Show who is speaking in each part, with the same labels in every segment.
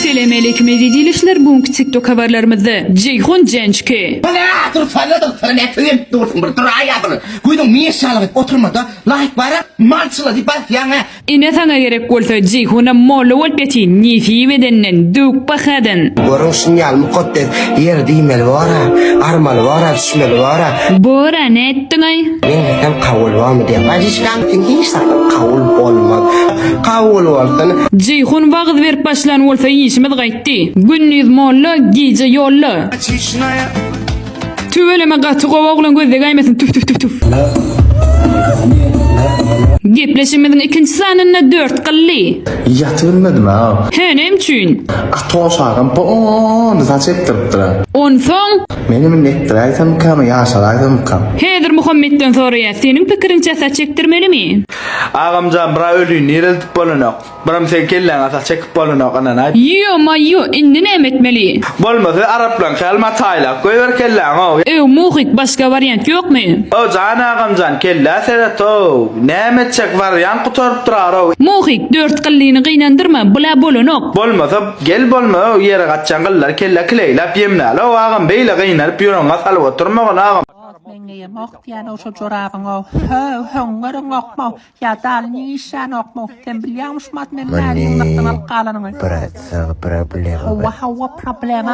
Speaker 1: Selam aleyküm eziz ilişler bu günki tiktok habarlarymyzda Ceyhun Cençki. Bu ne atyr sana da sana ne tüyem
Speaker 2: dursun bir dur ayadır. Güydün mi eşyalı oturma da like bara malçıla di bas yana. Ine saňa gerek
Speaker 1: bolsa Ceyhunam molla bolup ýatyn nesip edenden döwük bahadan. Görüň şuny ýaly
Speaker 2: mukaddes ýer diýmeli bor-a, armaly bor-a. Düşmeli bara. Bora nätdiňaý. Men hem kabul bolmy diýen. Bajiçkam
Speaker 1: sen hiç zat
Speaker 2: kabul bolmaz. Kabul bolsun. Jeýhun wagyz
Speaker 1: berip başlan bolsa işimiz gaýtdy. Gündiz molla gije ýolla. Tüweleme gaty gowy oglan gözlegäýmesin tüf tüf tüf tüf. Gepleşigimiziň ikinji sanynda dört gylly. Ýaty bilmedim ha.
Speaker 3: Hä näme üçin?
Speaker 1: Atoş agam
Speaker 3: bony saç ekdiripdir. Onsoň.
Speaker 1: Meni mini
Speaker 3: etdiräýsemikami, ýaşaraýsamykam? Häzir Muhammetden
Speaker 1: soraýas, seniň pikiriňçe saç ekdirmelimi? Agamjan bra
Speaker 4: öliň nireldip bolanok. Bram seň kelläňe saç ekip bolanok ynanaý. Ýo maýo
Speaker 1: indi näme etmeli. Bolmasa araplaň
Speaker 4: kälmä taýlap goýber kelläňo. Öw Muhik başga
Speaker 1: wariant ýokmy. Öw jan agamjan
Speaker 4: kellä sereto-ow. Näme etjek wariant gutaryp durar-ow. Muhik dört gyllini
Speaker 1: gynandyrma bula bolanok. Bolmasa. Gel
Speaker 4: bolma öw ýere gaçjan gyllary kellä kileýläp ýemläl öw agam beýle gynanyp ýüregiňe salyp oturmagyn agam. Oz meňeýemok
Speaker 5: diýänow şo jorabyňow höw höň göreňokmow ýa daly niň işlänokmow sen bilýäňmişm at meniň näme ýygnakdan alyp galanymy. Brat saňa problema
Speaker 2: bar. Howwa howwa
Speaker 5: problema.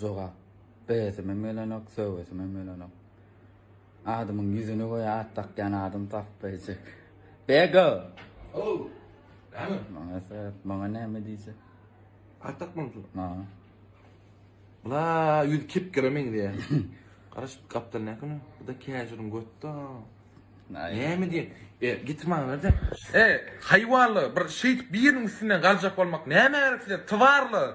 Speaker 6: Jogap, Beýesimem gelenok, söwesimem gelenok. Adamyň ýüzüni göýä at dakýan adam tapbaýjak. Bego! Ow! Näme?
Speaker 7: Maňa sebäp, maňa
Speaker 6: näme diýjek? At
Speaker 7: dakmamyzmy? Ha.
Speaker 6: Bula
Speaker 7: ýüz kepgere meňzeýär. Garaş, gapdal näküni? Bu-da käjiriň götde. Näme diýen? E, getir maňa ber-de. E, haýwanlar, bir şeýdip biriniň üstünden galjak bolmak näme gerek size, twarlar!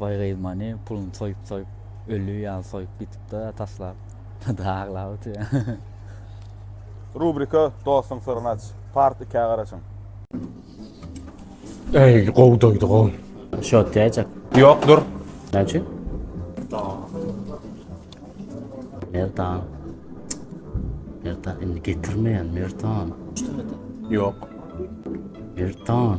Speaker 6: Baýgyz
Speaker 8: many
Speaker 6: puluny soýup soýup öli ýaly soýup gitipda taslap da aglap otyr. Rubrika
Speaker 9: Dostuň syryny aç. Part ikä garaşyň.
Speaker 10: Eý gowy doýdy gowy. Shot diyajak.
Speaker 6: Yok dur.
Speaker 9: Ne üçin?
Speaker 6: Merdan. Merdan indi getirmeyen Merdan. Yok. Merdan.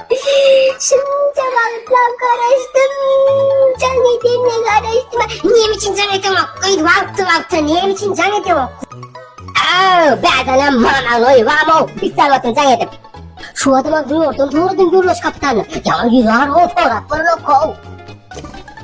Speaker 11: Şunça wagtlap garaşdym, jaň edenine garaşdym. Näme üçin jaň edeňok? Gyz wagtly-wagtly näme üçin jaň edeňok? Aw, bädana manaly oýbam-ow, pis salwatyň jaň edip. Şu adama zordan sorudym Gürleş kapitany. Ýa ýüz arba sorap görmek-ow.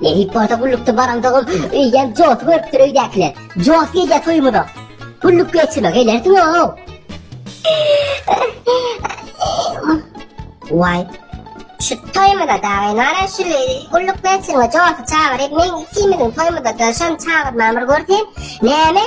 Speaker 11: Men it bolsa gullukda baraňdygym, öýýäm josy görüpdir öýdäkiler. Jos gelýär toýumyza. Gulluk geçirme, gelersiň-ow. Waý, şu toýumyza dagy nara şu gulluk geçirme josy çagyryp, men ikimiziň toýumyza-da şony çagyrman bir görseň, näme?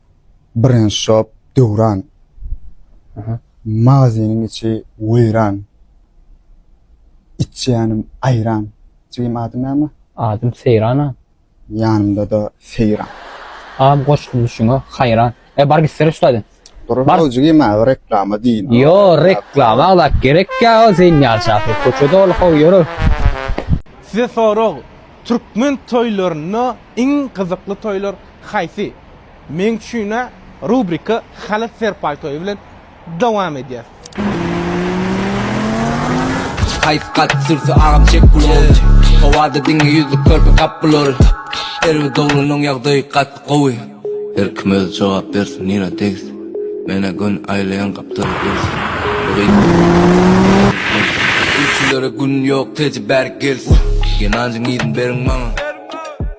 Speaker 10: Birinji şop, Döwran. Magazynyň içi weýran. Içýänim aýran. Jigim adyň näme? Adym Seýran a.
Speaker 6: Ýanymda-da
Speaker 10: Seýran. A bu goşgy
Speaker 6: duşuňe haýran. E bar gitsene şulardan. Dur how jigim
Speaker 10: a reklama diýin. Ýo reklama
Speaker 6: zat gerek ýa o seň ýaly şahyr köçe doly how ýöre.
Speaker 9: Size sorag, Türkmen toýlarynda iň gyzykly toýlar haýsy? Meň üçin-ä rubrika Halyt Serpaý toýy bilen dowam edýär.
Speaker 12: Haýsy kalp sürse agam çek bular Howada diňe ýüzlük körpe gap bular Erwe doglunyň ýagdaýy gaty gowy Her kim özi jogap bersin nirä degis Menä gün aýlaýan gapdal gerisi Bu gyz Gülçülere gün ýok teje bäri gelsin Genanjyň yzyn beriň maňa.